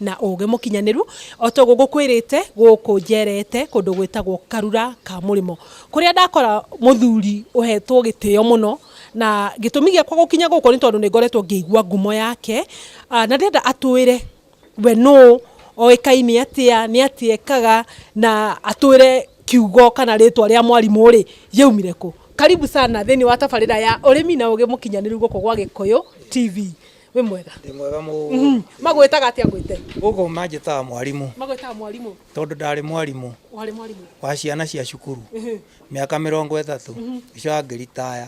na ũũgĩ mũkinyanĩru, o ta ũguo ngũkwĩrĩte gũkũ njerete kũndũ gwĩtagwo Karura ka Mũrĩmo, kũrĩa ndakora mũthuri ũhetwo gĩtĩo mũno, na gĩtũmi gĩakwa gũkinya gũkũ nĩ tondũ nĩ ngoretwo ngĩigua ngumo yake, na ndĩrenda atwĩre we nũũ, oĩkaine atĩa, nĩ atĩa ekaga, na atwĩre kiugo kana rĩtwa rĩa mwarimũ rĩ, rĩaumire kũ. Karibu sana thĩinĩ wa tabarĩra ya ũrĩmi na ũũgĩ mũkinyanĩru gũkũ gwa Gĩkũyũ TV. wĩ mwega Ndĩ mwega mũno. magwĩtaga atĩa ngwĩte Gũkũ manjĩtaga mwarimũ magwĩtaga mwarimũ tondũ ndarĩ mwarimũ warĩ mwarimũ wa ciana cia cukuru mĩaka mĩrongo ĩtatũ gĩcoka ngĩritaya.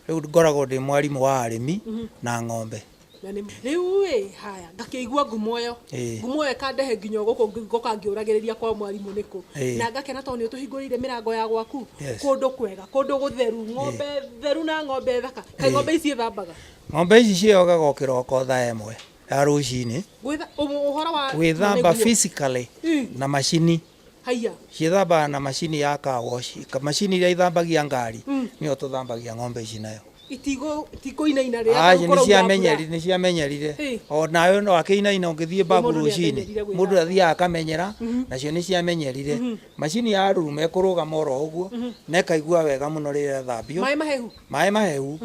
Rĩu ngoragwo ndĩ mwarimũ wa arĩmi na ng'ombe. Na nĩ- rĩu ĩ haya ngakĩigua ngumo ĩyo Ĩĩ. ngumo ĩyo ĩkandehe nginya gũkũ ngĩ- ngoka ngĩũragĩrĩria kwa mwarimũ nĩkũ Ĩĩ. na ngakena tondũ nĩ ũtũhingũrĩire mĩrango ya gwaku Yes. kũndũ kwega kũndũ gũtheru ng'ombe theru na ng'ombe thaka kaĩ Ĩĩ. ng'ombe ici ithambaga Ng'ombe ici ciogaga o kĩroko thaa ĩmwe ya rũcinĩ, Gwĩtha- ũhũ- ũhoro wa gwĩthamba nĩguo. physically Mm. na macini haiya ciĩthambaga na macini ya car wash Ka- macini iria ithambagia ngari Mm. nĩyo tũthambagia ng'ombe ici nayo itigũ- itikũinaina rĩrĩa Aji, gũkorwo nĩciamenyeri- iraura. nĩciamenyerire Ĩ. o nawe no akĩinaina ũngĩthiĩ mbabu mũndũ rũcinĩ nĩamenyerire gwĩthamba. mũndũ athiaga akamenyera nacio nĩciamenyerire macini ya rurume kũrũgama oro ũguo na ĩkaigua wega mũno rĩrĩa ĩthambio maĩ mahehu maĩ mahehu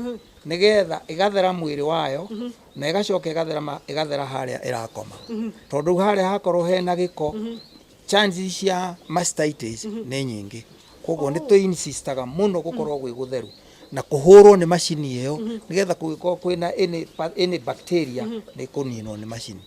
nĩgetha ĩgathera mwĩrĩ wayo na ĩgacoka ĩgatherama ĩgathera harĩa ĩrakoma tondũ rĩu harĩa hakorwo hena gĩko chances cia mastitis nĩ nyingĩ koguo nĩ tũ insistaga mũno gũkorwo gwĩ gũtheru na kũhũrwo nĩ macini ĩyo nĩgetha kũngĩkorwo kwĩna any, pa- any bacteria nĩ kũninwo nĩ macini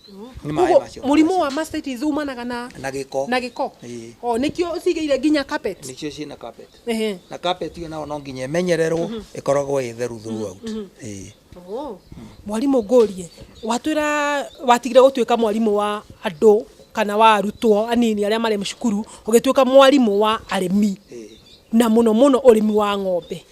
nĩ maĩ Koguo macio mũrimũ wa mastitis umanaga na na gĩko na gĩko Ĩĩ. o nĩkĩo ũcigĩire nginya carpet nĩcio ciĩna carpet Ehe. na carpet ĩyo nayo no nginya ĩmenyererwo ĩkoragwo ĩ theru throughout Ĩĩ. Oh. mwarimũ ngũrie watwĩra watigire gũtuĩka mwarimũ wa andũ kana wa arutwo anini arĩa marĩ cukuru ũgĩtuĩka mwarimũ wa arĩmi na mũno mũno ũrĩmi wa ng'ombe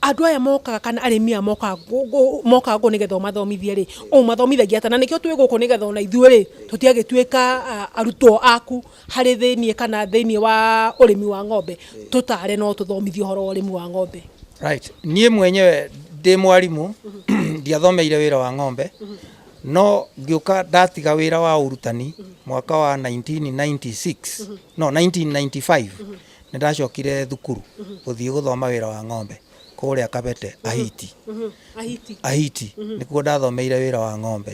andũ aya mokaga kana arĩmi aya mokaga gũ- gũ- mokaga gũkũ nĩgetha ũmathomithie rĩ ũmathomithagia atĩa na nĩkĩo twĩ gũkũ nĩgetha ona ithuĩ rĩ tũtiagĩtuĩka ah, arutwo aku harĩ thĩiniĩ kana thĩiniĩ wa ũrĩmi wa ng'ombe tũtare no tũthomithie ũhoro wa ũrĩmi wa ng'ombe Right. Niĩ mwenyewe ndĩ mwarimũ ndiathomeire wĩra wa ng'ombe no ngĩũka ndatiga wĩra wa ũrutani mwaka wa 1996 no 1995 nĩ ndacokire thukuru gũthiĩ gũthoma wĩra wa ng'ombe kũrĩa Kabete, Ahiti. Ahiti. Ahiti. Nĩkuo ndathomeire wĩra wa ng'ombe.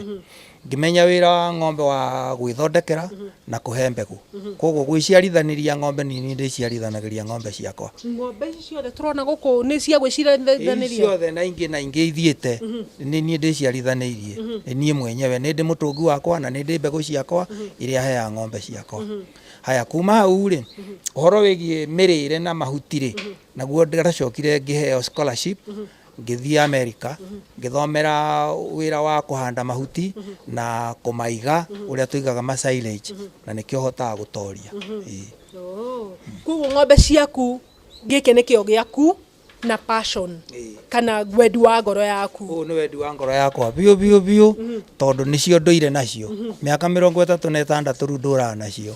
Ngĩmenya wĩra wa ng'ombe wa gwĩthondekera na kũhe mbegũ. Koguo gwĩciarithanĩria ng'ombe nĩ niĩ ndĩciarithanagĩria ng'ombe ciakwa. Ng'ombe ici ciothe tũrona gũkũ nĩ cia Ici gwĩciarithanĩria? ciothe na ingĩ na ingĩ ithiĩte nĩ niĩ ndĩciarithanĩirie nĩ niĩ mwenyewe nĩ ndĩ mũtũngi wakwa na nĩ ndĩ mbegũ ciakwa iria heaga ng'ombe ciakwa. Haya kuma hau rĩ, ũhoro wĩgiĩ mĩrĩre na mahuti rĩ, Naguo ndĩracokire ngĩheo scholarship ngĩthiĩ Amerika ngĩthomera wĩra wa kũhanda mahuti na kũmaiga ũrĩa tũigaga ma silage na nĩkĩo hotaga gũtoria. Ĩĩ. Koguo ng'ombe ciaku gĩkĩ nĩkĩo gĩaku na passion kana wendi wa ngoro yaku. Ũyũ nĩ wendi wa ngoro yakwa biũ biũ biũ tondũ nĩcio ndũire nacio. Mĩaka mĩrongo ĩtatũ na ĩtandatũ rĩu ndũraga nacio.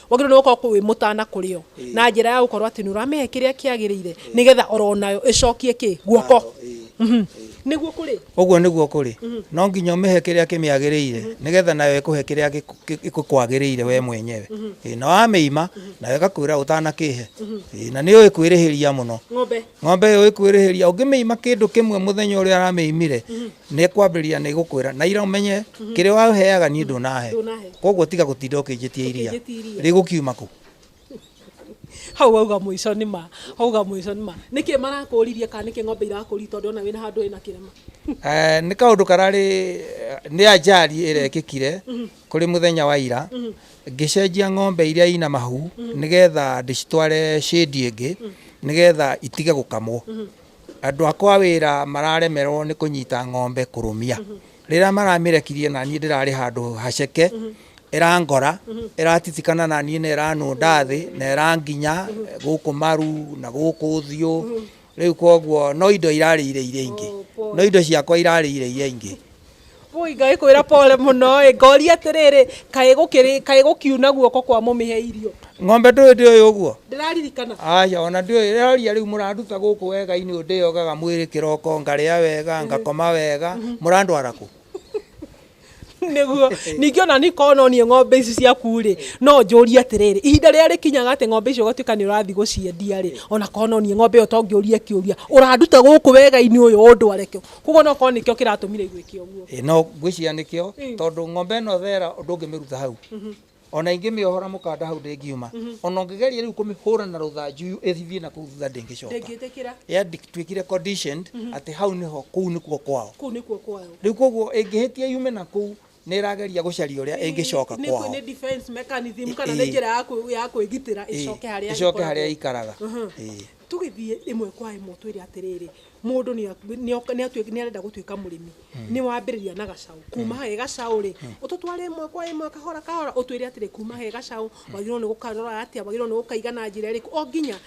wagĩrĩirwo nĩ gũkorwo kũ- wĩ mũtana kũrĩ o na njĩra ya gũkorwo atĩ nĩ ũramĩhe kĩrĩa kĩagĩrĩire nĩgetha oro nayo ĩcokie kĩ guoko Mhm. nĩguo kũrĩ ũguo nĩguo kũrĩ no nginya ũmĩhe kĩrĩa kĩmĩagĩrĩire nĩgetha nayo ĩkũhe kĩrĩa gĩkũ- gĩ- gĩkwagĩrĩire we mwenyewe Ĩ, na wamĩima nayo ĩgakwĩra ũtanakĩhe Ĩ, na nĩ ũĩ kwĩrĩhĩria mũno ng'ombe ng'ombe ĩyo ĩkwĩrĩhĩria ũngĩmĩima kĩndũ kĩmwe mũthenya ũrĩa aramĩimire Nĩekwambĩrĩria nĩgũkwĩra, na ira ũmenye, kĩrĩa waheaga niĩ ndũnahe, koguo tiga gũtinda ũkĩnjĩtia iria, rĩgũkiuma kũ? hau wauga mũico nĩ ma wauga mũico nĩ ma nĩkĩ marakũririe kana nĩkĩ ng'ombe irakũri tondũ ona wĩna handũ wĩna kĩrema Eh, nĩ kaũndũ kararĩ nĩ ajali ĩrekĩkire kũrĩ mũthenya wa ira ngĩcenjia ng'ombe iria ina mahu nĩgetha ndĩcitware shĩndi ĩngĩ nĩgetha itige gũkamwo Andũ akwa a wĩra mararemerwo nĩ kũnyita ng'ombe kũrũmia. Rĩrĩa maramĩrekirie na niĩ ndĩrarĩ handũ haceke, ĩrangora, ĩratitikana na niĩ na ĩranũnda thĩ na ĩranginya gũkũ maru na gũkũ ũthiũ. Rĩu kwoguo no indo irarĩire iria ingĩ, no indo ciakwa irarĩire iria ingĩ. Woi ngai kwira pole muno ĩ ngoria atiriri kaĩ gukiri kaĩ gukiuna guoko kwa mumihe irio ng'ombe ndũĩ ndĩũĩ ũguo ndiraririkana aca ona ndĩũĩ ĩroria rĩu mũranduta gũkũ wega-inĩ ũyũ ndĩyogaga mwĩrĩ kĩroko ngarĩa wega ngakoma wega mũrandwara kũ niguo ningĩ ona niĩ korwo no niĩ ng'ombe ici ciaku rĩ no njũrie atĩrĩrĩ ihinda rĩrĩa rĩkinyaga atĩ ng'ombe icio ũgatuĩka nĩ ũrathiĩ gũciendia rĩ ona korwo no niĩ ng'ombe ĩyo to ngĩũrie kĩũria ũranduta gũkũ wega-inĩ ũyũ ũndware kũ koguo no korwo nĩkĩo kĩratũmire igwĩke ũguo Ĩ, no ngwĩciria nĩkĩo tondũ ng'ombe ĩno thera ũndũ ũngĩmĩruta hau ona ingĩmĩohora mũkanda hau ndĩngiuma ona ũngĩgeria rĩu kũmĩhũra na rũthanju ĩthiĩ na kũu thutha ndĩngĩcoka ndĩngĩtĩkĩra yatuĩkire conditioned atĩ hau nĩho kũu nĩkuo kwao kũu nĩkuo kwayo rĩu koguo ĩngĩhĩtia yume na kũu nä ĩrageria gå caria å rä a ä ngä coka Nĩ- kwao nĩ defense mechanism kana nĩ Ĩĩ. njĩra ya kwĩ- ya kwĩgitĩra Ĩĩ, ĩcoke harĩa ĩcoke harä a ĩkoragwo. ikaraga Mhm. Ĩĩ. tũgĩthiĩ ĩmwe kwa ĩmwe twĩre atĩrĩrĩ mũndũ nĩ aku- nĩ oka- nĩ atuĩk- nĩ arenda gũtuĩka mũrĩmi nĩ wambĩrĩria na gacaũ kuma he gacaũ rĩ ũtũtware ĩmwe kwa ĩmwe kahora kahora ũtwĩre atĩrĩ kuma he gacaũ wagĩrĩirwo nĩ gũkarora atĩa wagĩrĩirwo nĩ gũkaiga na njĩra ĩrĩkũ o nginya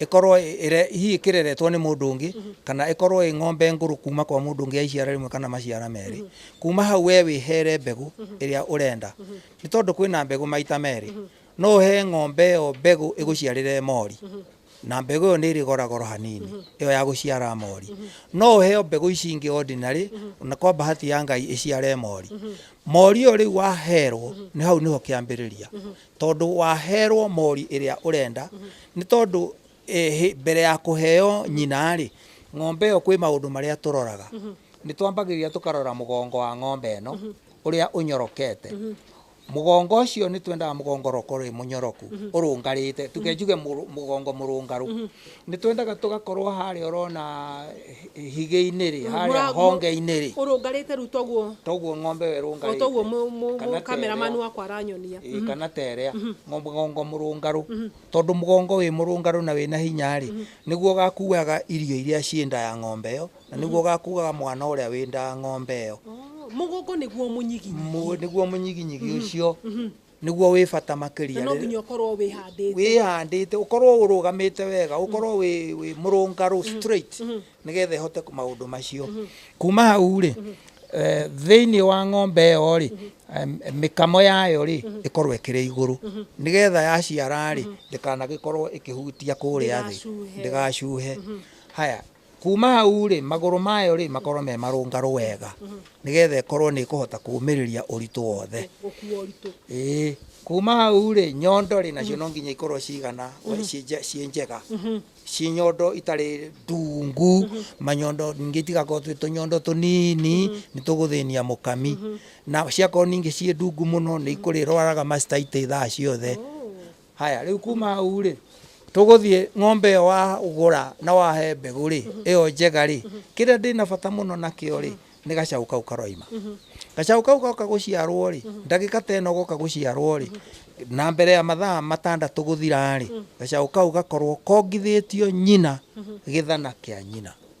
ĩkorwo ĩre, hihi ĩkĩreretwo nĩ mũndũ ũngĩ, kana ĩkorwo ĩ ng'ombe ngũrũ kuuma kwa mũndũ ũngĩ ya iciara rĩmwe kana maciara merĩ, kuuma hau wee wĩheere mbegũ ĩrĩa ũrenda. Nĩ tondũ kwĩ na mbegũ maita merĩ. No ũhe ng'ombe ĩyo mbegũ ĩgũciarĩre mori, na mbegũ ĩyo nĩ ĩrĩ gora goro hanini, ĩyo ya gũciara mori. No ũheo mbegũ ici ingĩ ordinary, na kwa bahati ya Ngai ĩciare mori. Mori ĩyo rĩu waheerwo, nĩ hau nĩho kĩambĩrĩria Tondũ waheerwo mori ĩrĩa ũrenda, nĩ tondũ mbere ya kũheo nyina rĩ, ng'ombe ĩyo kwĩ maũndũ marĩa tũroraga. Nĩ twambagĩrĩria tũkarora mũgongo wa ng'ombe ĩno ũrĩa ũnyorokete. Mũgongo ũcio nĩ twendaga mũgongo ũkorwo wĩ mũnyoroku, ũrũngarĩte, tuge njuge mũgongo mũrũngarũ. Nĩ twendaga tũgakorwo harĩa ũrona higĩ-inĩ rĩ, harĩa honge-inĩ rĩ. Ũrũngarĩte rĩu toguo. Toguo ng'ombe ĩyo ĩrũngarĩte. O toguo mũkameraman wakwa aranyonia. Ĩĩ kana ta ĩrĩa, mũgongo mũrũngarũ. Tondũ mũgongo wĩ mũrũngarũ na wĩna hinya rĩ, nĩguo ũgakuaga irio iria ciĩ nda ya ng'ombe ĩyo, na nĩguo ũgakuaga mwana ũrĩa wĩ nda ya ng'ombe ĩyo. Mũgongo nĩguo mũnyiginyigi. Nĩguo mũnyiginyigi ũcio. nĩguo wĩ bata makĩria. Na no nginya ũkorwo wĩhandĩte. Wĩhandĩte, ũkorwo ũrũgamĩte wega, ũkorwo wĩ, wĩ mũrũngarũ mm-hmm. straight mm-hmm. nĩgetha ĩhote maũndũ macio. Mm-hmm. Kuma hau rĩ, eh, thĩinĩ wa ng'ombe ĩyo rĩ, mĩkamo yayo rĩ ĩkorwo ĩkĩrĩ igũrũ nĩgetha yaciara rĩ ndĩkanagĩkorwo ĩkĩhutia kũrĩa thĩ ndĩgacuhe haya Kuuma hau-rĩ, magũrũ mayo-rĩ, makorwo me marũngarũ wega, nĩgetha ĩkorwo nĩ ĩkũhota kũũmĩrĩria ũritũ wothe. Ĩĩ. Kuuma hau-rĩ, nyondo-rĩ, nacio no nginya ikorwo cigana, ciĩ nje, ciĩ njega, ciĩ nyondo itarĩ ndungu, manyondo ningĩ itigakorwo twĩ tũnyondo tũnini, nĩ tũgũthĩnia mũkami. Na ciakorwo ningĩ ciĩ ndungu mũno, nĩ ikũrĩrwaraga mastitis thaa ciothe. Haya, rĩu kuma hau-rĩ, tũgũthiĩ ng'ombe ĩyo wagũra na wahe mbegũ-rĩ, ĩyo njega-rĩ, kĩrĩa ndĩna bata mũno nakĩo-rĩ, nĩ gacaũ kau karoima. Gacaũ kau goka gũciarwo-rĩ, ndagĩka ta ĩno goka gũciarwo-rĩ, na mbere ya mathaa matandatũ gũthira-rĩ, gacaũ kau gakorwo kongithĩtio nyina gĩthana kĩa nyina.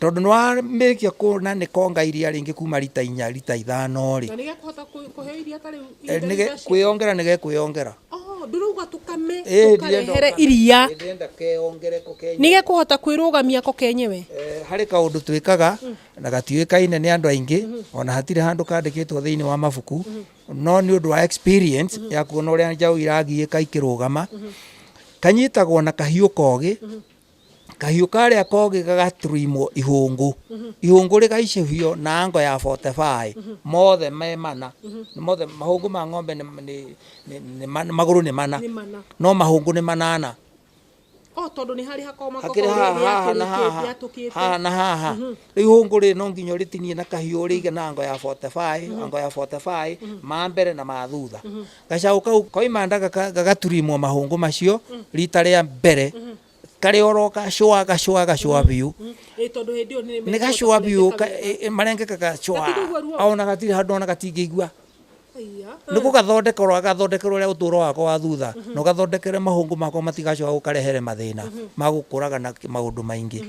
Tondũ nĩ warĩkia kuona nĩ konga iria rĩngĩ kuma rita inya rita ithano rĩ. Na nĩgekũhota kũheo iria ta rĩu eh, ihinda rĩu rĩacio? Kwĩyongera nĩgekwĩyongera. Oh, ndĩrauga tũkame Eh, tũkarehere ndienda- iria ndienda keyongere ko Kenya. nĩgekũhota kwĩrũgamia ko kenyewe Eh, harĩ kaũndũ twĩkaga na gatiũĩkaine nĩ andũ aingĩ ona hatirĩ handũ kandĩkĩtwo thĩinĩ wa mabuku no nĩ ũndũ wa experience ya kuona ũrĩa njaũ iragiĩka ikĩrũgama kanyitagwo na kahiũ kogĩ kahiũ karĩa kogĩ gagatrimwo ihũngũ ihũngũ rĩgaicũhio na ngo ya 45 mothe me mana Nĩ mothe mahũngũ ma ng'ombe nĩ nĩ- nĩ- nĩ man- magũrũ nĩ mana Nĩ mana. no mahũngũ nĩ manana o tondũ nĩ harĩ hakoma hakĩrĩ haha haha na haha haha yatũkĩte na haha rĩu ihũngũ rĩ no nginya ũrĩtinie na kahiũ ũrĩige na ngo ya 45 ngo ya 45 ma mbere na ma thutha Gacaũ kau koima nda gaka- gagaturimwo mahũngũ macio rita rĩa mbere karĩ oro gacũa gacũa gacũa biũ Ĩ, tondũ hĩndĩ ĩyo nĩ nĩ gacũa biũ ka- ĩ- ĩ, marengeka gacũa Gatigũigua ruo? ona gatirĩ handũ ona gatingĩigua nĩ gũgathondeka ũrĩa gathondekere ũrĩa ũtũũro wakwa wa thutha na ũgathondekere mahũngũ makwa matigacoka gũkarehere mathĩna ma gũkũraga na kĩ- maũndũ maingĩ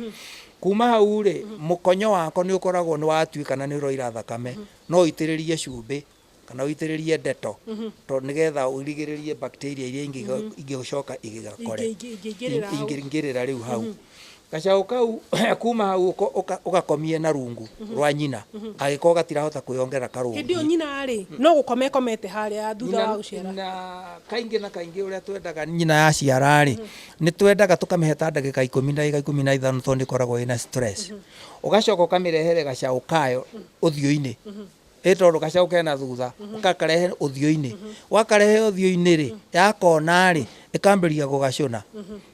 kuma hau rĩ mũkonyo wakwa nĩ ũkoragwo nĩ watuĩka na nĩ ũroira thakame no ũitĩrĩrie cumbĩ kana ũitĩrĩrie ndeto to nĩgetha ũrigĩrĩrie bacteria iria ingĩ ingĩcoka igĩgakore Ingĩ- ingĩ- ingĩingĩrĩra hau. ingĩingĩrĩra rĩu hau gacaũ kau kuma hau ũko- ũka- ũgakomie na rungu rwa nyina agĩkorwo gatirahota kwĩyongerera karũngu hĩndĩ ĩyo nyina arĩ no gũkoma ĩkomete harĩa thutha wa gũciara na kaingĩ na kaingĩ ũrĩa twendaga nyina yaciara-rĩ nĩ twendaga tũkamĩhe ta ndagĩka ikũmi ndagĩka ikũmi na ithano tondũ nĩkoragwo ĩna stress ũgacoka ũkamĩrehere gacaũ kayo ũthiũ-inĩ ĩ tondũ gacaũ kena thutha ũkakarehe ũthiũ-inĩ wakarehe ũthiũ-inĩ rĩ yakona rĩ ĩkambĩrĩria gũgacũna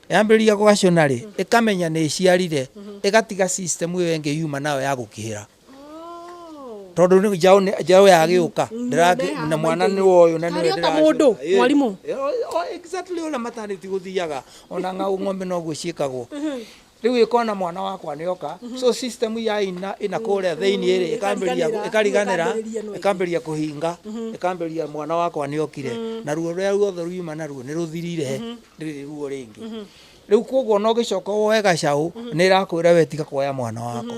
yambĩrĩria gũgacũna rĩ ĩkamenya nĩ ĩciarire ĩgatiga system ĩyo ĩngĩ yuma nayo ya gũkĩhĩra tondũ nĩ- njaũ nĩ- njaũ yagĩũka ndĩrangĩ- na mwana nĩ woyũ na nĩwe Harĩ o ta ndĩracũna. mũndũ, Ĩ, mwarimũ. ĩ, o- o- exactly ũrĩa matanĩti gũthiaga ona ng'aũ ng'ombe noguo ciĩkagwo riu ikona mwana wakwa ni oka so system ya ina ina kuria thiini iri ikambiria Ikariganĩra. ikariganira Ikambĩrĩria ĩno ĩngĩ. ikambiria kuhinga ikambiria mwana wakwa ni okire na ruo ruria ruothe riuma naruo ni ruthirire riri ruo ringi riu koguo no gicoka woe gacau ni irakwira we tiga kuoya mwana wakwa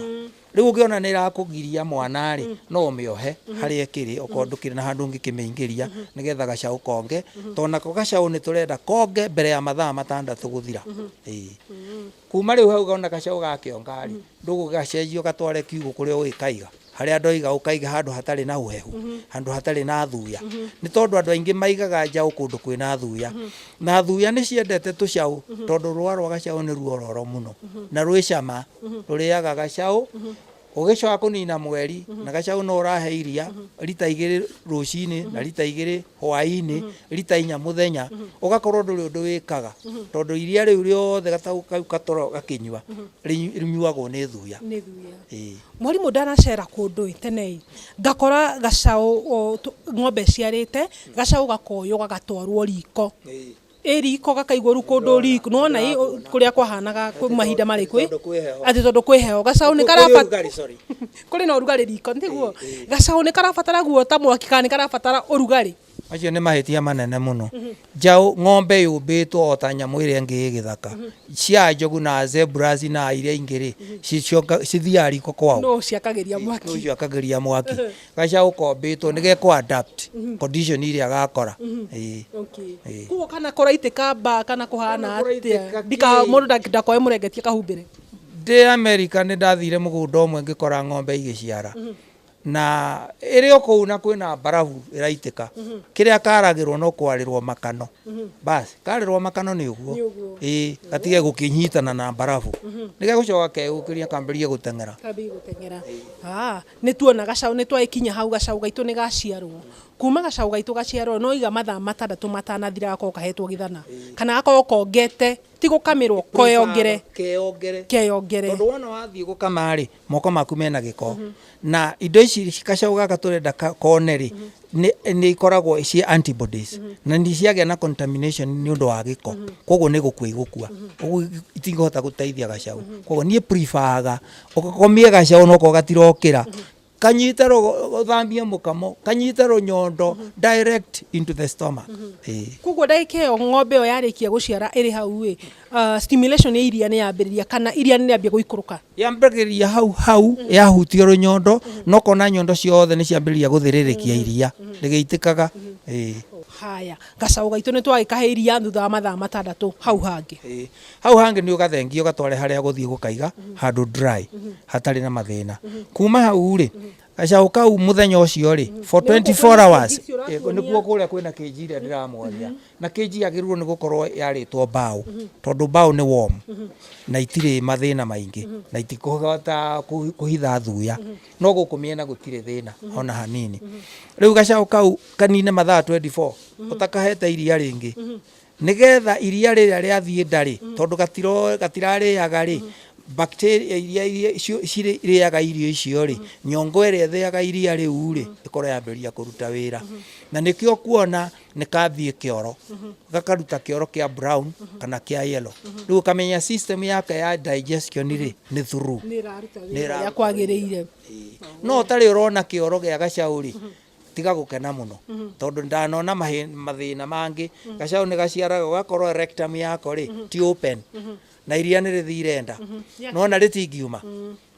Rĩu ũngĩona nĩ ĩrakũgiria mwana-rĩ, mm. no ũmĩohe mm-hmm. harĩa ĩkĩrĩ okorwo mm-hmm. ndũkĩrĩ na handũ ũngĩkĩmĩingĩria mm-hmm. nĩgetha gacaũ konge tondũ nako gacaũ nĩ tũrenda konge mbere ya mathaa matandatũ gũthira kuma rĩu hau ona gacaũ gakĩonga-rĩ ndũgũgacenjia ũgatware kiugũ kũrĩa ũgĩkaiga harĩa andũ aiga ũkaiga handũ hatarĩ na ũhehu handũ hatarĩ na thuya nĩ tondũ andũ aingĩ maigaga njaũ kũndũ kwĩna thuya Na thuya nĩ ciendete tũcaũ tondũ rũa rwa gacaũ nĩ ruororo mũno na rwĩ cama. Rũrĩaga gacaũ ũgĩcoka kũnina mweri na gacaũ no ũrahe iria rita igĩrĩ rũcinĩ na rita igĩrĩ hwainĩ, rita inya mũthenya, ũgakorwo ndũrĩ ũndũ wĩkaga tondũ iria rĩu rĩothe gataũ kau gatoragwo gakĩnyua rĩnyuagwo nĩ thuya. Nĩ thuya. Ĩĩ. Mwarimũ ndanacera kũndũ-ĩ, tene-ĩ, ngakora gacaũ ng'ombe ĩciarĩte Gacaũ gakoywo gagatwarwo riko. Ĩ riko gakaigwo rĩu kũndũ riko nĩwona ĩ kũrĩa kwahanaga kwĩ mahinda marĩ kwĩ atĩ tondũ kwĩ heho gacaũ nĩ karabatara kũrĩ na ũrugarĩ riko tiguo? Gacaũ nĩ karabatara guota mwaki kana nĩ karabatara ũrugarĩ. Macio nĩ mahĩtia manene mũno. Njaũ ng'ombe yũmbĩtwo o ta nyamũ ĩrĩa ĩngĩ ĩ gĩthaka. Cia njogu na zebras na iria ingĩ rĩ, cithiaga riko kwao? Nũ ũciakagĩria mwaki? Nũ ũciakagĩria mwaki? Gacaũ kombĩtwo nĩ ge kũ adapt condition iria agakora. Ĩĩ. Okay. Ĩĩ. Koguo kana kũraitĩka mbaa kana kũhana Kana kũraitĩka atĩa kĩ? ndika mũndũ ndaki- ndakoe mũrengetie kahumbĩre Ndĩ Amerika nĩ ndathire mũgũnda ũmwe ngĩkora ng'ombe igĩciara na ĩrĩ o kũu na kwĩna mbarabu ĩraitĩka kĩrĩa karagĩrwo no kwarĩrwo makano basi karĩrwo makano nĩ ũguo Nĩ ũguo. ĩĩ gatige gũkĩnyitana na mbarabu nĩ gegũcoka keyũkĩria kambĩrĩrie gũteng'era Kambĩrĩrie gũteng'era. Ah, Nĩ tuona gacaũ, nĩ twagĩkinya hau gacaũ gaitũ nĩ gaciarwo. Kuuma gacaũ gaitũ gaciarwo no iga mathaa matandatũ matanathira gakorwo kahetwo gĩthana kana gakorwo kongete, ti gũkamĩrwo, koyongere, keyongere. Tondũ wona wathiĩ gũkama rĩ, moko maku mena gĩko. Na indo ici gacaũ gaka tũrenda kone rĩ, nĩ ikoragwo ciĩ anti bodies. Na nĩ ciagĩa na contamination nĩ ũndũ wa gĩko, kwoguo nĩ gũkua igũkua. Kwoguo itingĩhota gũteithia gacaũ. Kwoguo niĩ prefer aga Ũgakomie gacaũ noko gatirokĩra. Kanyite rũgo- gũthambie mũkamo, kanyite rũnyondo direct into the stomach. Ĩĩ. koguo ndagĩka ĩyo ng'ombe ĩyo yarĩkia gũciara ĩrĩ hau ĩ ah, stimulation ya iria nĩ yambĩrĩria kana iria nĩ rĩambia gũikũrũka yambagĩrĩria hau hau yahutia rũnyondo nokona nyondo ciothe nĩ ciambĩrĩria gũthĩrĩrĩkia iria rĩgĩitĩkaga Ĩĩ. haya gacaũ gaitũ nĩ twagĩkahe iria thutha wa mathaa matandatũ hau hangĩ Ĩĩ. Hau hangĩ nĩ ũgathengie ũgatware harĩa gũthiĩ gũkaiga handũ dry hatarĩ na mathĩna. Kuma hau rĩ, gacaũ kau mũthenya ũcio rĩ for 24 hours eh, nĩkuo kũrĩa kwĩna kĩnji ĩrĩa ndĩramwaria na kĩnji yagĩrĩirwo nĩ gũkorwo yarĩtwo mbaũ tondũ mbaũ nĩ warm na itirĩ mathĩna maingĩ na itikũhota kũhi- kũhitha thuya no gũkũ mĩena gũtirĩ thĩna ona hanini. Rĩu gacaũ kau kanine mathaa 24 ũtakahete iria rĩngĩ Nĩ getha iria rĩrĩa rĩathiĩ nda-rĩ, tondũ gatiro- gatirarĩaga-rĩ, bacteria iria iria icio cirĩaga irio icio-rĩ, nyongo ĩrĩa ĩthĩaga iria rĩu-rĩ, ĩkorwo yambĩrĩria kũruta wĩra. Na nĩkĩo ũkuona nĩkathiĩ kĩoro, gakaruta kĩoro kĩa brown kana kĩa yellow. Rĩu ũkamenya system yake ya digestion-rĩ, nĩ through. Nĩ ĩraruta wĩra ũrĩa kwagĩrĩire. No ũtarĩ ũrona kĩoro gĩa gacaũ-rĩ, tiga gukena muno tondu ndanona mahi- mathina mangi gacau ni gaciaraga ugakorwo rectum yako ri ti open na iria ni rithire nda Yeah. nona ritingiuma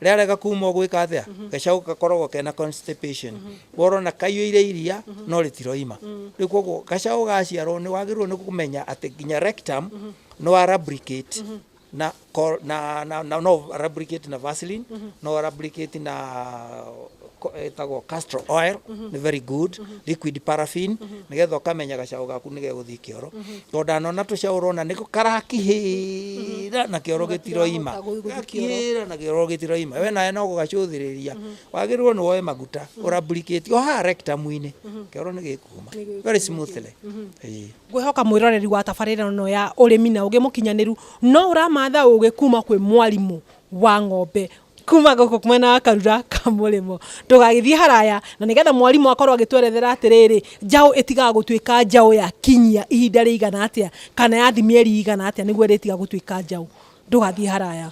riarega kuma ugwika atia gacau gakoragwo kena constipation worona kaiyuire iria no ritiroima riu koguo gacau gaciarwo ni wagirwo ni kumenya ati nginya rectum nwa lubricate na ko- na na na no replicate na vaseline no replicate na ko- ĩtagwo castor oil nĩ very good liquid paraffin nĩgetha ũkamenya gacaũ gaku nĩ gegũthiĩ kĩoro tondũ ndanona tũcaũ ũrona nĩ karakihĩra na kĩoro gĩtiroima Gatirahota gũthiĩ kĩoro. gakihĩra na kĩoro gĩtiroima we nawe no gũgacũthĩrĩria wagĩrĩirwo nĩ woe maguta ũrablikĩti o haha rectum-inĩ kĩoro nĩ gĩkuuma Nĩ gĩkuuma. very smoothly Ĩĩ. Ngwĩhoka mwĩroreri wa tabarĩra ĩno ya ũrĩmi na ũgĩ mũkinyanĩru no ũramatha ũgĩ kuma kwĩ mwarimũ wa ng'ombe kuma gũkũ mwena wa Karura ka mũrĩmo. Ndũgagĩthiĩ haraya na nĩgetha mwarimũ akorwo agĩtwerethera atĩrĩrĩ, njaũ ĩtigaga gũtuĩka njaũ ya kinyia ihinda rĩigana atĩa kana yathi mĩeri ĩigana atĩa nĩguo ĩrĩtiga gũtuĩka njaũ. Ndũgathiĩ haraya.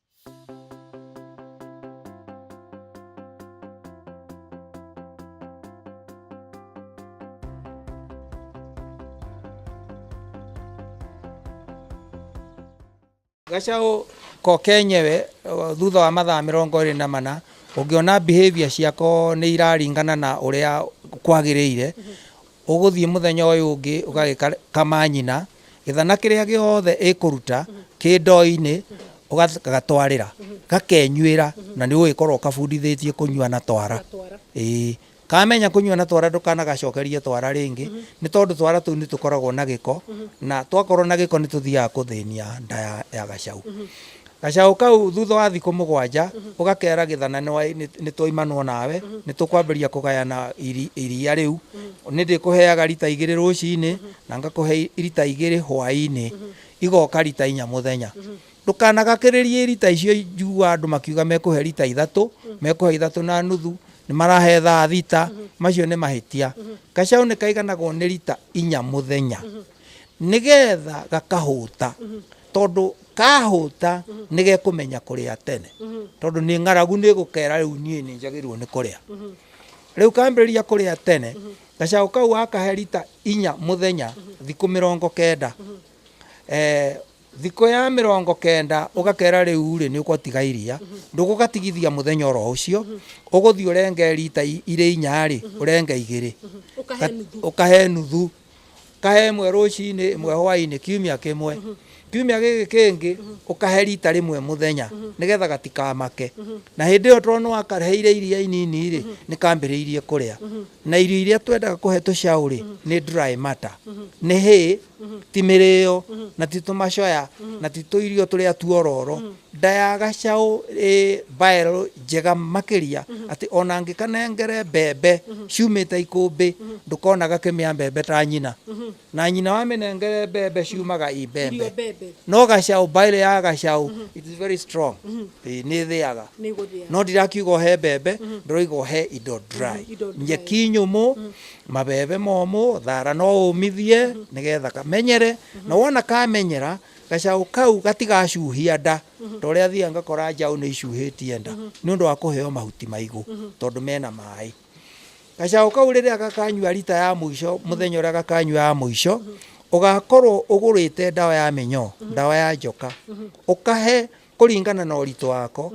Gacaũ ko kenyewe o, thutha wa mathaa mĩrongo ĩrĩ na mana ũngĩona behaviour ciako nĩ iraringana na ũrĩa kwagĩrĩire Ũgũthiĩ mũthenya ũyũ ũngĩ ũgagĩkama nyina, gĩthana kĩrĩa gĩothe ĩkũruta kĩ ndoo-inĩ ũgagatwarĩra, gakenyuĩra na nĩ ũgũgĩkorwo ũkabundithĩtie kũnyua na twara. Ĩĩ. Kamenya kũnyua na twara ndũkanagacokerie twara rĩngĩ, nĩ tondũ twara tũu nĩ tũkoragwo na gĩko, na twakorwo na gĩko nĩ tũthiaga kũthĩnia nda ya gacaũ. Gacaũ kau thutha wa thikũ mũgwanja ũgakeera gĩthanane wa nĩ nĩ twoimanwo nawe, nĩ tũkwambĩrĩria kũgayana iri, iria rĩu. Nĩ ndĩkũheaga rita igĩrĩ rũcinĩ, na ngakũhe rita igĩrĩ hwaĩ-inĩ, igoka rita inya mũthenya. Ndũkanagakĩrĩrie rita icio njigua andũ makiuga mekũhe rita ithatũ, mekũhe ithatũ na nuthu, nĩ marahe thaa thita, macio nĩ mahĩtia. Gacaũ nĩ kaiganagwo nĩ rita inya mũthenya. nĩ getha gakahũta tondũ kahũta nĩ gekũmenya kũrĩa tene tondũ nĩ ng'aragu nĩ gũkera rĩu niĩ nĩ njagĩrĩirwo nĩ kũrĩa rĩu kambĩrĩria kũrĩa tene gacaũ kau wakahe rita inya mũthenya thikũ mĩrongo kenda Eh, thikũ ya mĩrongo kenda ũgakera rĩu rĩ nĩ ũgũtiga iria ndũgũgatigithia mũthenya oro ũcio ũgũthiĩ ũrenge rita i- irĩ inya rĩ ũrenge igĩrĩ Ũkahe Ga- nuthu. ũkahe nuthu Kahe ĩmwe rũcinĩ, ĩmwe hwaĩ-inĩ, kiumia kĩmwe. Kiumia gĩkĩ kĩngĩ ũkahe rita rĩmwe mũthenya, nĩgetha gatikamake. Na hĩndĩ ĩyo tondũ nĩwakaheire iria inini-rĩ, nĩkambĩrĩirie kũrĩa. Na irio iria twendaga kũhe tũcaũ-rĩ, nĩ dry matter, nĩ hay, ti mĩrĩo, na ti tũmacoya, na ti tũirio tũrĩa tuororo, Nda ya gacaũ ĩ viral njega makĩria atĩ ona ngĩkanengere mbembe ciumĩte ikũmbĩ ndũkona gakĩmĩa mbembe ta nyina. Na nyina wamĩnengere mbembe ciumaga i mbembe. No gacaũ viral ya gacaũ it is very strong. Ĩĩ nĩ ĩthĩaga. No ndirakiuga ũhe mbembe ndĩroiga ũhe indo dry. Nyeki nyũmũ, mabebe momũ, thara no ũmithie nĩgetha kamenyere. Na wona kamenyera Gacaũ kau gatigacuhia nda ta ũrĩa thiaga ngakora njaũ nĩ icuhĩtie nda nĩ ũndũ wa kũheo mahuti maigũ tondũ mena maĩ. Gacaũ kau rĩrĩa gakanyua rita ya mũico mũthenya ũrĩa gakanyua ya mũico, ũgakorwo ũgũrĩte ndawa ya mĩnyoo, ndawa ya njoka, ũkahe kũringana na ũritũ wako,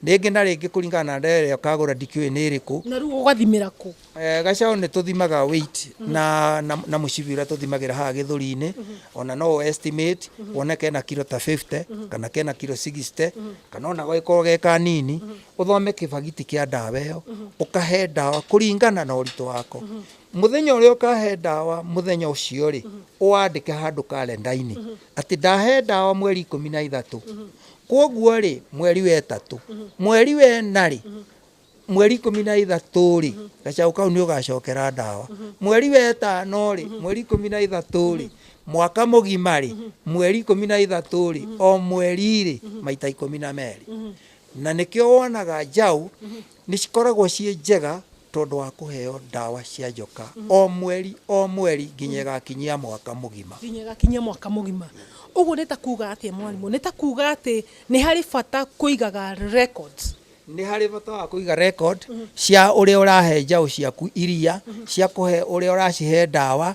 Rĩngĩ na rĩngĩ kũringana na ndare ĩrĩa ũkagũra ndikĩũĩ nĩ ĩrĩkũ. Na rĩu ũgathimĩra kũ? Eh, gacaũ nĩ tũthimaga weight na, na, na mũcibi ũrĩa tũthimagĩra haha gĩthũri-inĩ ona no ũ estimate wone kena kiro ta 50 kana kena kiro 60 kana ona gagĩkorwo ge kanini ũthome kĩbagiti kĩa ndawa ĩyo ũkahe ndawa kũringana na ũritũ wako mũthenya ũrĩa ũkahe ndawa mũthenya ũcio rĩ ũwandĩke handũ karenda-inĩ atĩ ndahe ndawa mweri ikũmi na ithatũ Kwoguo-rĩ, mweri wa ĩtatũ, mweri wa ĩna-rĩ, mweri ikũmi na ithatũ-rĩ, gacaũ kau nĩũgacokera ndawa. Mweri wa ĩtano-rĩ, mweri ikũmi na ithatũ-rĩ, mwaka mũgima-rĩ, mweri ikũmi na ithatũ-rĩ, o mweri-rĩ, maita ikũmi na merĩ. Na nĩkĩo wonaga njaũ Nĩ cikoragwo ciĩ njega tondũ wa kũheo ndawa cia njoka o mweri o mweri nginya ĩgakinyia mwaka mũgima. Nginya ĩgakinyia mwaka mũgima. Ũguo nĩ ta kuuga atĩa mwarimũ? Nĩ ta kuuga atĩ nĩ harĩ bata kũigaga records? Nĩ harĩ bata wa kũiga record cia ũrĩa ũrahe njaũ ciaku iria, cia kũhe ũrĩa ũracihe ndawa,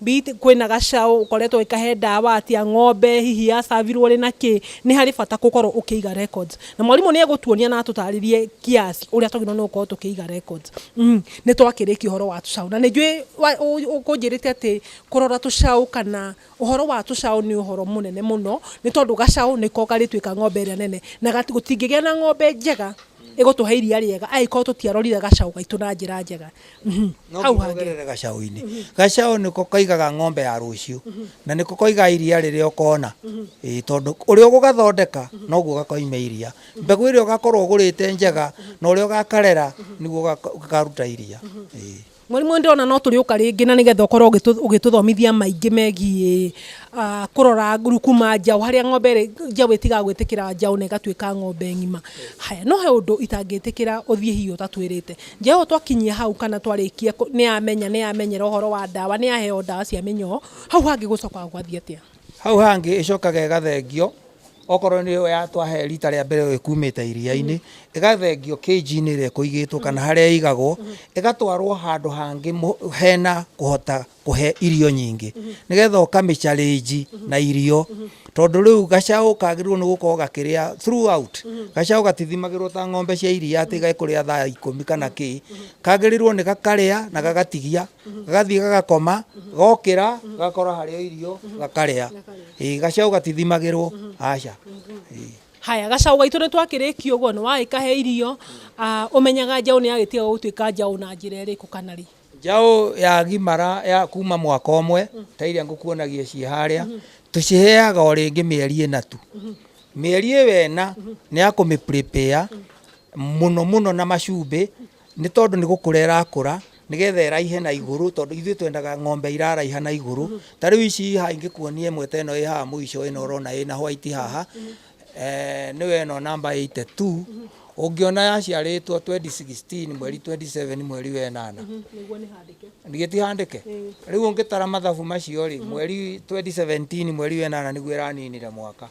Be it kwĩna gacaũ ũkoretwo ũgĩkahe ndawa atĩa, ng'ombe hihi ya serve rwo rĩ na kĩ, nĩ harĩ bata gũkorwo ũkĩiga records. Na mwarimũ nĩ egũtuonia na atũtarĩrie kiasi ũrĩa twagĩrĩirwo nĩ gũkorwo tũkĩiga records. Nĩ twakĩrĩkia ũhoro wa tũcaũ. Na nĩ njũĩ ũkũnjĩrĩte atĩ kũrora tũcaũ kana ũhoro wa tũcaũ nĩ ũhoro mũnene mũno, nĩ tondũ gacaũ nĩko karĩtuĩka ng'ombe ĩrĩa nene. Na gũtingĩgĩa na ng'ombe njega ĩgũtũhe iria rĩega angĩkorwo tũtiarorire gacaũ gaitũ na njĩra njega. no hau hangĩ ngihogerere gacaũ-inĩ gacaũ nĩko kaigaga ng'ombe ya rũciũ na nĩko koigaga iria rĩrĩa ũkona Ĩĩ, tondũ ũrĩa ũgũgathondeka noguo gakoima iria mbegũ ĩrĩa ũgakorwo ũgũrĩte njega na ũrĩa ũgakarera nĩguo gaka- gakaruta iria Ĩĩ. mwarimũ ndĩrona no tũrĩũka rĩngĩ na nĩgetha ũkorwo ũgĩtũ- ũgĩtũthomithia maingĩ megiĩ ah, kũrora nguru kuma njaũ harĩa ng'ombe ĩrĩ- njaũ ĩtigaga gwĩtĩkĩra njaũ na ĩgatuĩka ng'ombe ng'ima haya no he ũndũ itangĩtĩkĩra ũthiĩ hihi ũtatwĩrĩte Njaũ twakinyia hau kana twarĩkia nĩamenya nĩamenyera ũhoro wa ndawa nĩaheo ndawa cia mĩnyoo hau hangĩ gũcokaga gwathiĩ atĩa? Hau hangĩ ĩcokaga ĩgathengio okorwo nĩyo ya twahe rita rĩa mbere ĩkumĩte iria-inĩ ĩgathengio cage inĩ ĩrĩa ĩkũigĩtwo kana harĩa ĩigagwo ĩgatwarwo handũ hangĩ hena kũhota kũhe irio nyingĩ nĩgetha ũkamĩcarĩnji na irio tondũ rĩu gacaũ kagĩrĩirwo nĩ gũkorwo gakĩrĩa throughout gacaũ gatithimagĩrwo ta ng'ombe cia iria atĩ gekũrĩa thaa ikũmi kana kĩ kagĩrĩirwo nĩ gakarĩa na gagatigia gagathiĩ gagakoma gokĩra gakora harĩa irio gakarĩa Ĩĩ, gacaũ gatithimagĩrwo aca haya gacaũ gaitũ nĩ twakĩrĩkia ũguo nĩ wagĩkahe irio ah, ũmenyaga njaũ nĩ yagĩtiga gũtuĩka njaũ na njĩra ĩrĩkũ kana rĩ Njaũ ya gimara ya kuma mwaka ũmwe ta iria ngũkuonagia ciĩ harĩa tũciheaga o rĩngĩ mĩeri ĩna tu mĩeri ĩyo ĩna nĩ ya kũmĩ prepare mũno mũno na macumbĩ nĩ tondũ nĩ gũkũra ĩrakũra nĩgetha ĩraihe na igũrũ tondũ ithuĩ twendaga ng'ombe iraraiha na igũrũ ta rĩu ici haha ingĩkuonia ĩmwe ta ĩno ĩ haha mũico ĩno ũrona ĩna white haha Eeh nĩwe ĩno namba 82 ũngĩona yaciarĩtwo 2016 mweri 27 mweri wa ĩnana nĩguo nĩ handĩke ndigĩ tihandĩke rĩu ũngĩtara mathabu macio rĩ mweri 2017 mweri wa ĩnana nĩguo ĩraninire mwaka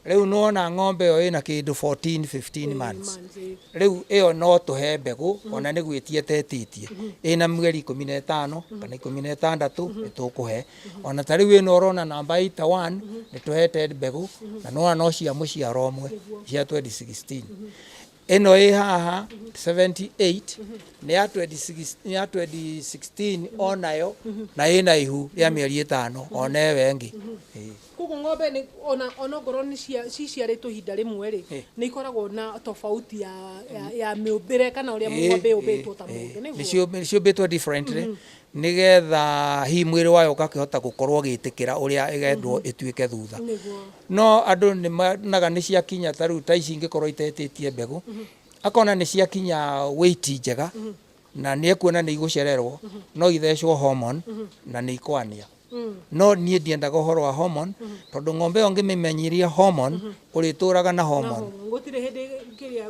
rĩu nĩwona ng'ombe ĩyo ĩna kĩndũ 14 15 months rĩu ĩyo no tũhe mbegũ ona nĩ gwĩtia tetĩtie ĩna mweri ikũmi na ĩtano kana ikũmi na ĩtandatũ nĩ tũkũhe Ona ta rĩu ĩno ũrona namba 81 nĩ tũhete mbegũ na nĩ wona no cia mũciaro ũmwe cia 2016. Ĩno ĩ haha 78 nĩ ya 2016 nĩ ya 2016 onayo na ĩna ihu rĩa mĩeri ĩtano ona ĩyo ĩngĩ. Ĩĩ. Koguo ng'ombe nĩ ona ona okorwo nĩ cia ciciarĩtwo ihinda rĩmwe-rĩ, Eh. nĩ ikoragwo na tofauti ya ya, ya mĩũmbĩre kana ũrĩa Ĩĩ, ng'ombe ĩĩ, yũmbĩtwo ta ĩĩ. mũndũ, nĩguo? Nĩciũmbi- nĩciũmbĩtwo differently nĩgetha hihi mwĩrĩ wayo ũgakĩhota gũkorwo ũgĩtĩkĩra ũrĩa ĩgendwo ĩtuĩke thutha Nĩguo. no andũ nĩ monaga nĩ ciakinya ta rĩu ta ici ingĩkorwo itetĩtie mbegũ akona nĩ ciakinya weight njega na nĩ ekuona nĩ igũcererwo no ithecwo hormone na nĩ ikwania No niĩ ndiendaga ũhoro wa hormone tondũ ng'ombe ĩyo ngĩmĩmenyithia hormone ũrĩtũraga na hormone. Gũtirĩ hĩndĩ kĩrĩa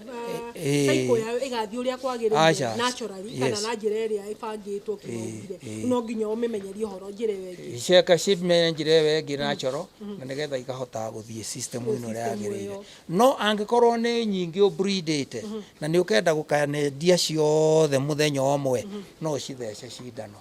Eh, eh. cycle yayo ĩgathiĩ ũrĩa kwagĩrĩire Aca. naturally kana Yes. na njĩra ĩrĩa ĩbangĩtwo kĩmaũmbire eh. no nginya ũmĩmenyerie ũhoro njĩra ĩyo ĩngĩ Ceka cimenye njĩra ĩyo ĩngĩ na coro na nĩgetha ikahotaga gũthiĩ system ĩno ĩrĩa system yagĩrĩire. ĩyo. No angĩkorwo nĩ nyingĩ ũbridĩte na nĩ ũkenda gũkanendia ciothe mũthenya ũmwe no ũcithece cindano.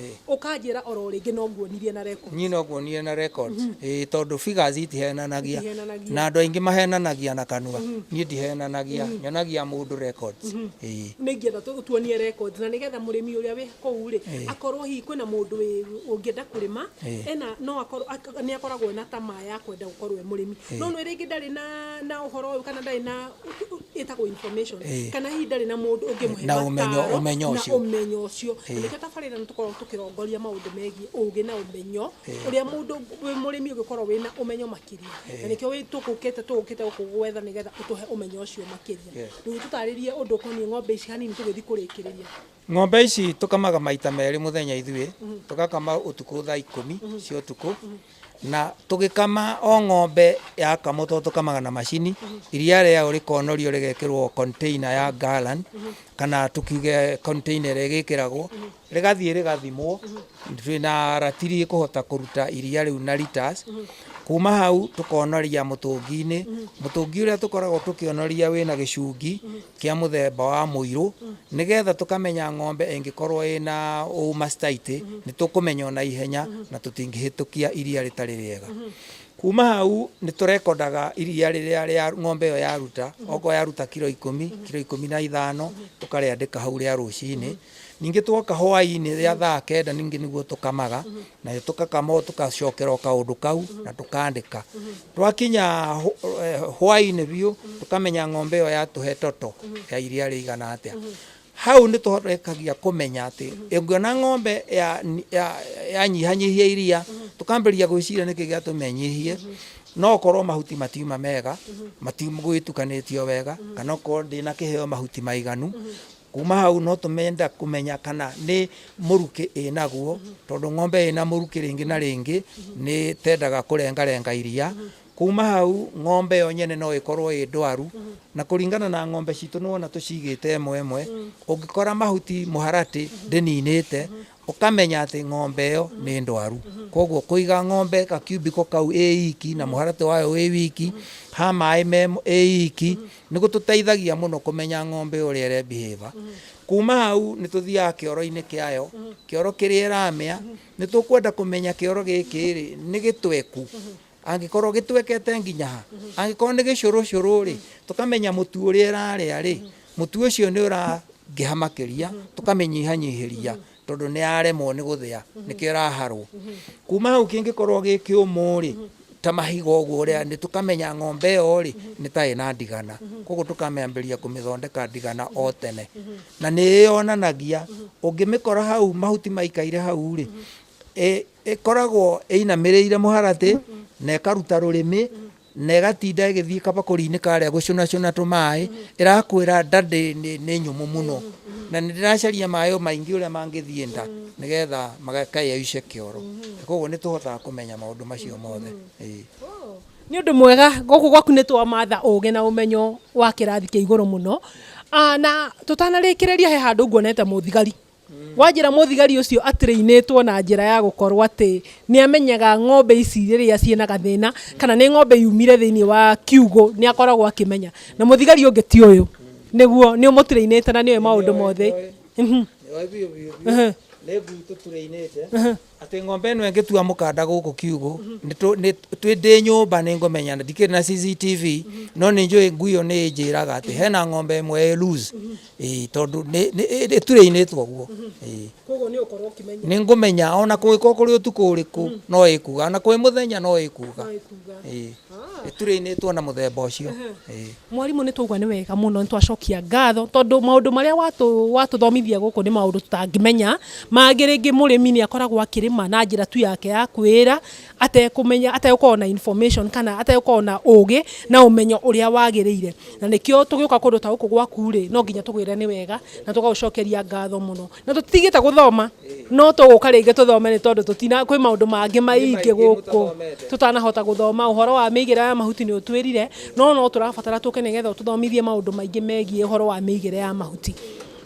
Ĩĩ. ũkanjĩra oro rĩngĩ no nguonirie na record niĩ no nguonire na record ĩĩ tondũ figures itihenanagia Itihenanagia. na andũ aingĩ mahenanagia na kanua niĩ ndihenanagia nyonagia mũndũ records ĩĩ nä ingä enda tuonie records na nä getha må rä mi å rä a wä kåu rä Ĩĩ. akorwo hihi kwä na må ndå å ngä enda kå rä ma Ĩĩ. ena no akorwo nä akoragwo na tamaa ya kwenda gå korwo e må rä mi Ĩĩ. no nä rä ngä ndarä na na å horo å yå kana ndarä na ĩtagwo information Eh. kana hihi ndarĩ na mũndũ ũngĩmũhe Na ũmenyo- mataaro ũmenyo na ũcio. ũmenyo ũcio Eh. Na nĩkĩo tabarĩra nĩ tũkoragwo tũkĩrongoria maũndũ megiĩ ũgĩ na ũmenyo ũrĩa mũndũ wĩ mũrĩmi ũngĩkorwo wĩ na ũmenyo makĩria na nĩkĩo wĩ- tũgũkĩte tũgũkĩte gũkũ gwetha nĩgetha ũtũhe ũmenyo ũcio makĩria Yes. rĩu tũtarĩrie ũndũ ũkoniĩ ng'ombe ici hanini tũgĩthiĩ kũrĩkĩrĩria Ng'ombe ici tũkamaga maita merĩ mũthenya ithuĩ, tũgakama ũtukũ thaa ikũmi cia ũtukũ, na tũgĩkama o ng'ombe yakamwo tondũ tũkamaga na macini, iria rĩayo rĩkonorio rĩgekĩrwo container ya gallon, kana tũkiuge container ĩrĩa ĩgĩkĩragwo, rĩgathiĩ rĩgathimwo, twĩ na ratiri ĩkũhota kũruta iria rĩu na litres, kuma hau tũkonoria mũtũngi-inĩ, mũtũngi ũrĩa tũkoragwo tũkĩonoria wĩna gĩcungi kĩa mũthemba wa mũirũ nĩgetha tũkamenya ng'ombe ĩngĩkorwo ĩna ũũ mastitis nĩ tũkũmenya ona ihenya na tũtingĩhĩtũkia iria rĩtarĩ rĩega. Kuma hau nĩ tũrekondaga iria rĩrĩa rĩa ng'ombe ĩyo yaruta, okorwo yaruta kiro ikũmi, kiro ikũmi na ithano tũkarĩandĩka hau rĩa rũcinĩ. Ningĩ twoka hwainĩ rĩa thaa kenda ningĩ nĩguo tũkamaga nayo tũkakama o tũkacokera o kaũndũ kau na tũkandĩka twakinya hũ- eh, hwainĩ biũ tũkamenya ng'ombe ĩyo yatũhe toto ya iria rĩigana atĩa hau nĩ tũrekagia kũmenya atĩ ĩngiona ng'ombe ya- ya- yanyihanyihia iria tũkambĩrĩria gwĩciria nĩkĩ gĩatũma ĩnyihie no korwo mahuti matiuma mega matigwĩtukanĩtio wega kana okorwo ndĩna kĩheo mahuti maiganu Kuma hau no tũmenda kũmenya kana nĩ mũrukĩ ĩnaguo, tondũ ng'ombe ĩna mũrukĩ rĩngĩ na rĩngĩ nĩ tendaga kũrengarenga iria. Kuma hau ng'ombe yo nyene no ĩkorwo ĩ ndwaru, na kũringana na ng'ombe citũ nĩ wona tũcigĩte ĩmwe ĩmwe, ũngĩkora mahuti mũharatĩ ndĩninĩte, Ũkamenya atĩ ng'ombe ĩyo nĩ ndwaru. Kwoguo kũiga ng'ombe ga kiumbiko kau ĩ iki na mũharatĩ wayo wĩ wiki, ha maĩ me ĩ iki, nĩ gũtũteithagia mũno kũmenya ng'ombe ũrĩa ĩre behave. Kuma hau nĩ tũthiaga kĩoro-inĩ kĩayo, kĩoro kĩrĩa ĩramĩa, nĩ tũkwenda kũmenya kĩoro gĩkĩ rĩ, nĩ gĩtweku, Angĩkorwo gĩtwekete nginya ha? Angĩkorwo nĩ gĩcũrũcũrũ-rĩ, tũkamenya mũtu ũrĩa ĩrarĩa-rĩ, mũtu ũcio nĩ ũrangĩha makĩria, tũkamĩnyihanyihĩria tondũ nĩ yaremwo nĩ gũthĩa, nĩkĩo ĩraharwo. Kuma hau kĩngĩkorwo gĩ kĩũmũ-rĩ, ta mahiga ũguo-rĩ, nĩ tũkamenya ng'ombe ĩyo-rĩ, nĩ ta ĩna ndigana. Kũguo tũkamĩambĩrĩria kũmĩthondeka ndigana o tene. Na nĩ ĩyonanagia, ũngĩmĩkora hau mahuti maikaire hau-rĩ, ĩkoragwo ĩinamĩrĩire mũharatĩ na ĩkaruta rũrĩmĩ na ĩgatinda ĩgĩthiĩ kabakũri-inĩ karĩa gũcũnacũna tũmaĩ, ĩrakwĩra nda nĩ nyũmũ mũno na nĩ ndĩracaria maĩ o maingĩ ũrĩa mangĩthiĩ nda nĩ getha makayoice kĩoro. Koguo nĩ tũhotaga kũmenya maũndũ macio mothe. Nĩ ũndũ mwega, gũkũ gwaku nĩ twamatha ũgĩ na ũmenyo wa kĩrathi kĩa igũrũ mũno. Na tũtanarĩkĩrĩria he handũ nguonete mũthigari. Wanjĩra mũthigari ũcio atrainĩtwo na njĩra ya gũkorwo atĩ nĩ amenyaga ng'ombe ici rĩrĩa ciĩna gathĩna kana nĩ ng'ombe yumire thĩinĩ wa kiugũ nĩ akoragwo akĩmenya. Na mũthigari ũngĩ ti ũyũ. Nĩguo, nĩ ũmũtrainĩte na nĩ ũĩ maũndũ mothe. Nĩ ũĩ biũ biũ biũ. Nĩ ngui tũtrainĩte. Atĩ ng'ombe ĩno ĩngĩtua mũkanda gũkũ kiugũ nĩtũ- nĩ- twĩ- ndĩ nyũmba nĩ ngũmenya na ndikĩrĩ na CCTV no nĩ njũĩ ngui ĩyo nĩ ĩnjĩraga atĩ hena ng'ombe ĩmwe ĩ loose. Ĩĩ, tondũ nĩ- nĩ- ĩ- ĩ- ĩturĩinĩtwo ũguo Ĩĩ. koguo nĩ ũkorwo ũkĩmenya nĩ ngũmenya ona kũngĩkorwo kũrĩ ũtukũ ũrĩkũ no ĩkuga ona kũrĩ mũthenya no ĩkuga ĩkuga Ĩĩ. ĩturĩinĩtwo na mũthemba ũcio Ĩĩ. mwarimũ nĩ twaigua nĩ wega mũno nĩ twacokia ngatho tondũ maũndũ marĩa watũ- watũthomithia gũkũ nĩ maũndũ tũtangĩmenya mangĩ rĩngĩ mũrĩmi nĩ akoragwo akĩrĩma na njĩra tu yake ya kwĩĩra atekũmenya ategũkorwo na information kana ategũkorwo na ũũgĩ na ũmenyo ũrĩa wagĩrĩire na nĩkĩo tũgĩũka kũndũ ta gũkũ gwaku rĩ no nginya tũgwĩre nĩ wega na tũgagũcokeria ngatho mũno na tũtitigĩte gũthoma no tũgũka rĩngĩ tũthome nĩ tondũ tũtina kwĩ maũndũ mangĩ maingĩ gũkũ tũtanahota gũthoma ũhoro wa mĩigĩre ya mahuti nĩ ũtwĩrire no no tũrabatara tũke nĩgetha ũtũthomithie maũndũ maingĩ megiĩ ũhoro wa mĩigĩre ya mahuti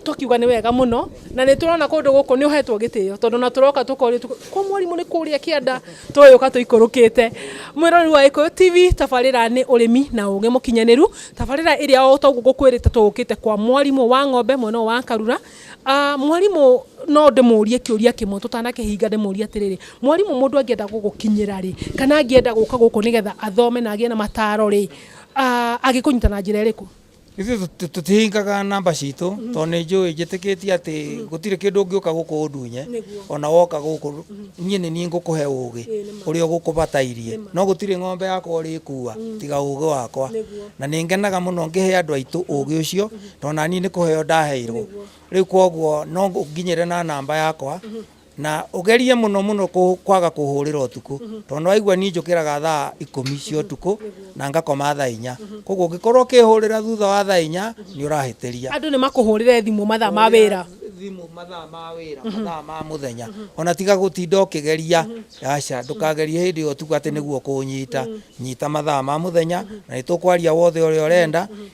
tũkiuga nĩ wega mũno na nĩ tũrona kũndũ gũkũ nĩ ũhetwo gĩtĩo tondũ na tũroka tũkorio kwa mwarimũ nĩ kũrĩa kĩanda tũgĩũka tũikũrũkĩte mwĩrori wa Gĩkũyũ TV tabarĩra nĩ ũrĩmi na ũgĩ mũkinyanĩru tabarĩra ĩrĩa o ta ũguo ngũkwĩrĩte tũgũkĩte kwa mwarimũ wa ng'ombe mwena ũyũ wa Karura Ah, mwarimũ no ndĩmũrie kĩũria kĩmwe tũtanakĩhinga ndĩmũrie atĩrĩrĩ mwarimũ mũndũ angĩenda gũgũkinyĩra rĩ kana angĩenda gũka gũkũ nĩgetha athome na agĩe na mataro rĩ ah, agĩkũnyita na njĩra ĩrĩkũ ithuĩ tũti- tũtihingaga namba citũ tondũ nĩ njũĩ njĩtĩkĩtie atĩ gũtirĩ kĩndũ ũngĩũka gũkũ ũndunye Nĩguo. ona woka gũkũ niĩ nĩ niĩ ngũkũhe ũũgĩ Ĩĩ, nĩ ma. ũrĩa ũgũkũbatairie no gũtirĩ ng'ombe yakwa ũrĩkua tiga ũũgĩ wakwa Nĩguo. na nĩ ngenaga mũno ngĩhe andũ aitũ ũũgĩ ũcio No na niĩ nĩ kũheo ndaheirwo rĩu kwoguo no nginyĩre na namba yakwa na ũgerie mũno mũno kũ- kwaga kũhũrĩra ũtukũ tondũ nĩ waigua niĩ njũkĩraga thaa ikũmi cia ũtukũ na ngakoma thaa inya kwoguo ũngĩkorwo ũkĩhũrĩra thutha wa thaa inya nĩ ũrahĩtĩria andå nä makåhårä thimå mathaa ma wä ra thimå mathaa ma wä ra mathaa ma må thenya ona tiga gå tinda å kä geria aca ndå kagerie hä ndä ä yo tuga atä nä guo kå nyita nyita mathaa ma må thenya na nä tå kwaria wothe å rä a å renda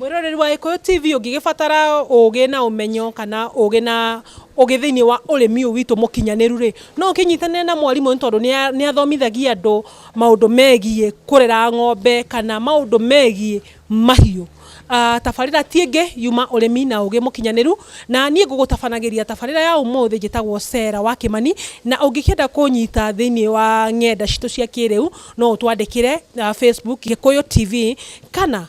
Mwĩroreri wa Gĩkũyũ TV ũngĩgĩbatara ũgĩ na ũmenyo kana ũgĩ na ũgĩ thĩinĩ wa ũrĩmi ũyũ witũ mũkinyanĩru rĩ, no ũkĩnyitanĩre na mwarimũ nĩ tondũ nĩ athomithagia andũ maũndũ megiĩ kũrera ng'ombe kana maũndũ megiĩ mahiũ. Tabarĩra ti ĩngĩ yuma ũrĩmi na ũgĩ mũkinyanĩru na niĩ ngũgũtabanagĩria tabarĩra ya ũmũthĩ njĩtagwo Sarah wa Kĩmani na ũngĩkĩenda kũnyita thĩinĩ wa ng'enda citũ cia kĩrĩu no ũtwandĩkĩre Facebook Gĩkũyũ TV kana